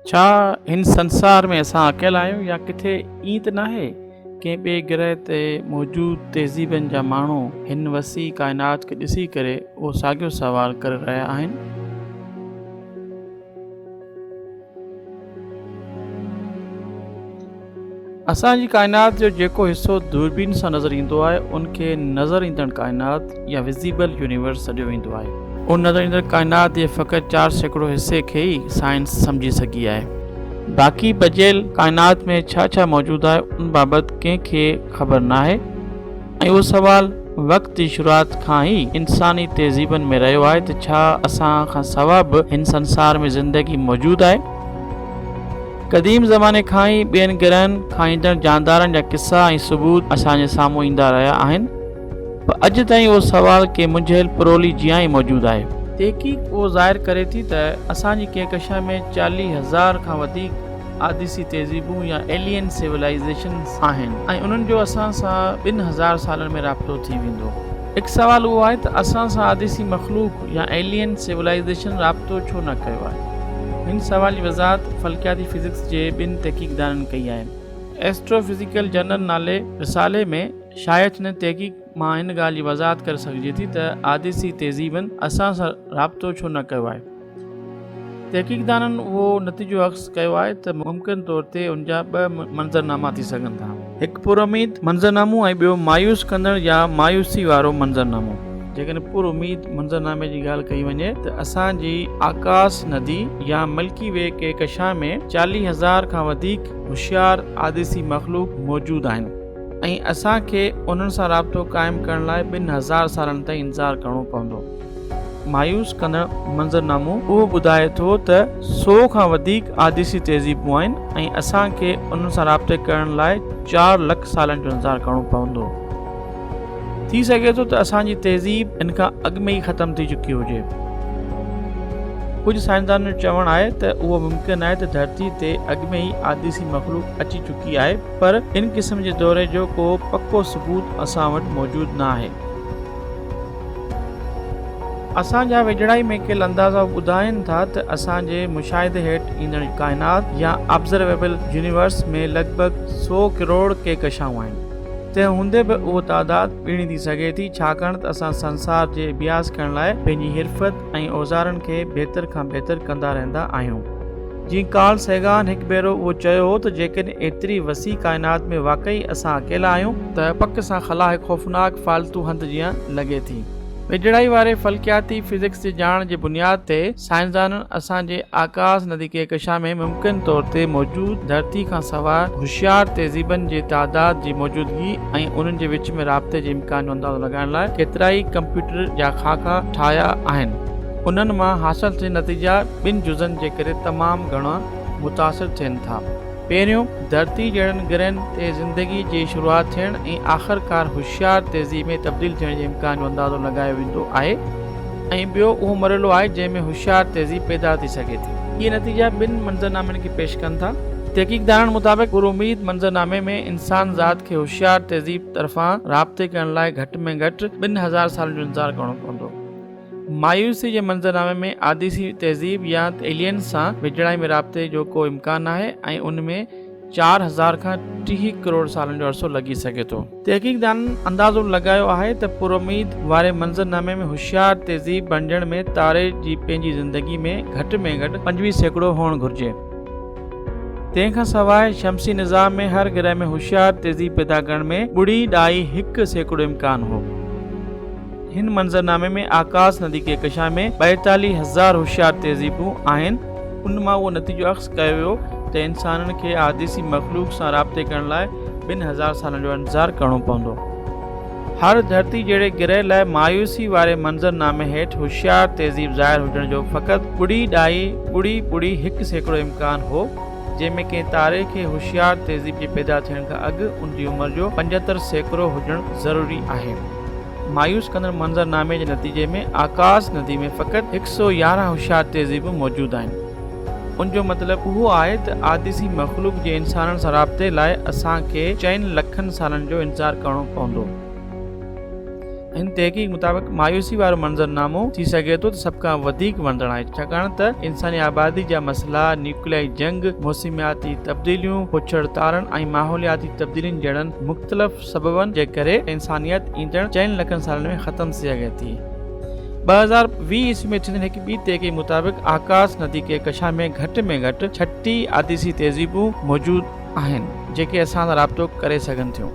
ڇا هن سنسار ۾ اسان اڪيلا آهيون يا ڪٿي ائين ته ناهي ڪنهن ٻئي گرهه تي موجود تهذيبن جا ماڻهو هن وسيع ڪائنات کي ڏسي ڪري اهو ساڳيو سوال ڪري رهيا آهن اسان جي ڪائنات جو جيڪو حصو دوربين سان نظر ايندو آهي ان کي نظر ايندڙ ڪائنات يا وزيبل يونيورس سڏيو ويندو آهي. ان نظر ايندڙ ڪائنات جي فقط چار سيڪڙو حصي کي ئي سائنس سمجهي سگهي آهي. باقي بچيل ڪائنات ۾ ڇا ڇا موجود آهي ان بابت ڪنهن کي خبر ناهي. اهو سوال وقت جي شروعات کان ئي انساني تهذيبن ۾ رهيو آهي ته ڇا اسان کان سوا به هن سنسار ۾ زندگي موجود آهي؟ قديم زماني کان ئي ٻين گرهن کان ايندڙ جاندارن جا قصا ۽ ثبوت اسان جي سامهون ايندا رهيا آهن، پر اڄ تائين اهو سوال ڪنهن منجهيل پرولي جيان ئي موجود آهي. تحقيق اهو ظاهر ڪري ٿي ته اسان جي ڪهڪشان ۾ چاليهه هزار کان وڌيڪ آديسي تهذيبون يا Alien Civilizations آهن ۽ انهن جو اسان سان ٻن هزار سالن ۾ رابطو ٿي ويندو. هڪ سوال اهو آهي ته اسان سان آديسي مخلوق يا Alien Civilization رابطو ڇو نه ڪيو آهي؟ هن سوال جي وضاحت فلڪياتي فزڪس جي ٻن تحقيقدانن ڪئي آهي. ايسٽرو فزيڪل جرنل نالي رسالي ۾ شايع ٿيندڙ تحقيق مان هن ڳالهه جي وضاحت ڪري سگهجي ٿي ته آديسي تهذيبن اسان سان رابطو ڇو نه ڪيو آهي. تحقيقدانن اهو نتيجو اخذ ڪيو آهي ته ممڪن طور تي ان جا ٻه منظرناما ٿي سگهن ٿا. هڪ پر اميد منظرنامو ۽ ٻيو مايوس ڪندڙ يا مايوسي وارو منظرنامو. جيڪڏهن پر اميد منظرنامي جي ڳالهه ڪئي وڃي ته اسان جي آڪاس ندي يا ملڪي وي ڪهڪشان ۾ چاليهه هزار کان وڌيڪ هوشيار آديسي مخلوق موجود آهن. ۽ اسان کي انهن سان رابطو قائم ڪرڻ لاء ٻن هزار سالن تائين انتظار ڪرڻو پوندو. مايوس ڪندڙ منظرنامو اهو ٻڌائي ٿو ته سو کان وڌيڪ آديسي تهذيبون آهن ۽ اسان کي انهن سان رابطي ڪرڻ لاء چار لک سالن جو انتظار ڪرڻو پوندو. ٿي سگهي ٿو ته اسان جي تهذيب ان کان اڳ ۾ ئي ختم ٿي چڪي هجي. ڪجهه سائنسدانن جو چوڻ آهي ته اهو ممڪن آهي ته ڌرتي تي اڳ ۾ ئي آديسي مخلوق اچي چڪي آهي، پر ان قسم جي دوري جو ڪو پڪو ثبوت اسان وٽ موجود نه آهي. اسان جا ويجهڙائي ۾ ڪيل اندازا ٻڌائين ٿا ته اسان جي مشاهدي هيٺ ايندڙ ڪائنات يا Observable Universe ۾ لڳ ڀڳ سؤ ڪروڙ ڪهڪشائون آهن. تنهن هوندي به اهو تعداد ٻيڻي ٿي سگهي ٿي ڇاڪاڻ ته اسان سنسار جي اڀياس ڪرڻ لاء پنهنجي حرفت ۽ اوزارن کي بهتر کان بهتر ڪندا رهندا آهيون. جيئن ڪارل سيگان هڪ ڀيرو اهو چيو هو ته جيڪڏهن ايتري وسيع ڪائنات ۾ واقعي اسان اڪيلا آهيون، ته پڪ سان خلا هڪ خوفناڪ فالتو هنڌ جيان لڳي ٿي، ويجهڙائي واري فلڪياتي فزڪس جي ڄاڻ جي بنياد تي سائنسدانن اسان جي آڪاس ندي ڪهڪشان ۾ ممڪن طور تي موجود ڌرتي کان سواء هوشيار تهذيبن جي تعداد جي موجودگي ۽ انهن جي وچ ۾ رابطي جي امڪان جو اندازو لڳائڻ لاء ڪيترائي ڪمپيوٽر جا خاڪا ٺاهيا آهن. انهن مان حاصل ٿيل نتيجا ٻن جزن جي ڪري تمام گهڻا متاثر ٿين ٿا. پهريون، ڌرتي جهڙن گرهن تي زندگي جي شروعات ٿيڻ ۽ آخرڪار هوشيار تهذيب ۾ تبديل ٿيڻ جي امڪان جو اندازو لڳايو ويندو آهي ۽ ٻيو اهو مرحلو آهي جنهن ۾ هوشيار تهذيب پيدا ٿي سگهي ٿي. اهي نتيجا ٻن منظرنامن کي پيش ڪن ٿا. تحقيقدارن مطابق پراميد منظرنامي ۾ انسان ذات کي هوشيار تهذيب طرفان رابطي ڪرڻ لاء گهٽ ۾ گهٽ ٻن هزار سالن جو انتظار ڪرڻو پوندو. مايوسي جي منظرنامي ۾ آديسي تهذيب يا ايلينز سان ويجهڙائي ۾ رابطي جو ڪو امڪان آهي ۽ ان ۾ چار هزار کان ٽيهه ڪروڙ سالن جو عرصو لڳي سگهي ٿو. تحقيقدانن اندازو لڳايو آهي ته پراميد واري منظرنامي ۾ هوشيار تهذيب بڻجڻ ۾ تاري جي پنهنجي زندگي ۾ گهٽ ۾ گهٽ پنجويهه سيڪڙو هئڻ گهرجي. تنهن کان سواء شمسي نظام ۾ هر گرهه ۾ هوشيار تهذيب پيدا ڪرڻ ۾ ٻڙي ڏائي هڪ سيڪڙو امڪان هو. هن منظرنامي ۾ آڪاس ندي ڪهڪشان ۾ ٻائيتاليهه هزار هوشيار تهذيبون آهن. ان مان اهو نتيجو اخذ ڪيو ويو ته انسانن کي احاديثي مخلوق سان رابطي ڪرڻ لاء ٻن هزار سالن جو انتظار ڪرڻو پوندو. هر ڌرتي جهڙي گرهه لاء مايوسي واري منظرنامي هيٺ هوشيار تهذيب ظاهر هجڻ جو فقط ٻڙي ڏائي ٻڙي ٻڙي هڪ سيڪڙو امڪان هو. جنهن ۾ ڪنهن تاري کي هوشيار تهذيب جي پيدا ٿيڻ کان اڳ ان جي عمر جو پنجهتر سيڪڙو هجڻ ضروري آهي. مايوس ڪندڙ منظر نامي جي نتيجي ۾ آڪاس ندي ۾ فقط هڪ سئو يارهن هوشيار تهذيبون موجود آهن. ان جو مطلب اهو آهي ته آديسي مخلوق جي انسانن سان رابطي لاء اسان کي چئن لکن سالن جو انتظار ڪرڻو پوندو. هن تحقيق مطابق مايوسي وارو منظرنامو ٿي سگهي ٿو ته سڀ کان وڌيڪ وڻندڙ آهي ڇاڪاڻ ته انساني آبادي جا مسئلا، نيوڪليائي جنگ، موسمياتي تبديليون، پڇڙ تارن ۽ ماحولياتي تبديلين جهڙن مختلف سببن جي ڪري انسانيت ايندڙ چئن لکن سالن ۾ ختم ٿي سگهي ٿي. ٻه هزار ويهه عيسوي ۾ ٿيندڙ هڪ ٻي تحقيق مطابق آڪاس ندي ڪهڪشان ۾ گهٽ ۾ گهٽ ڇٽي آتيسي تهذيبون موجود آهن جيڪي اسان سان رابطو ڪري سگهن ٿيون.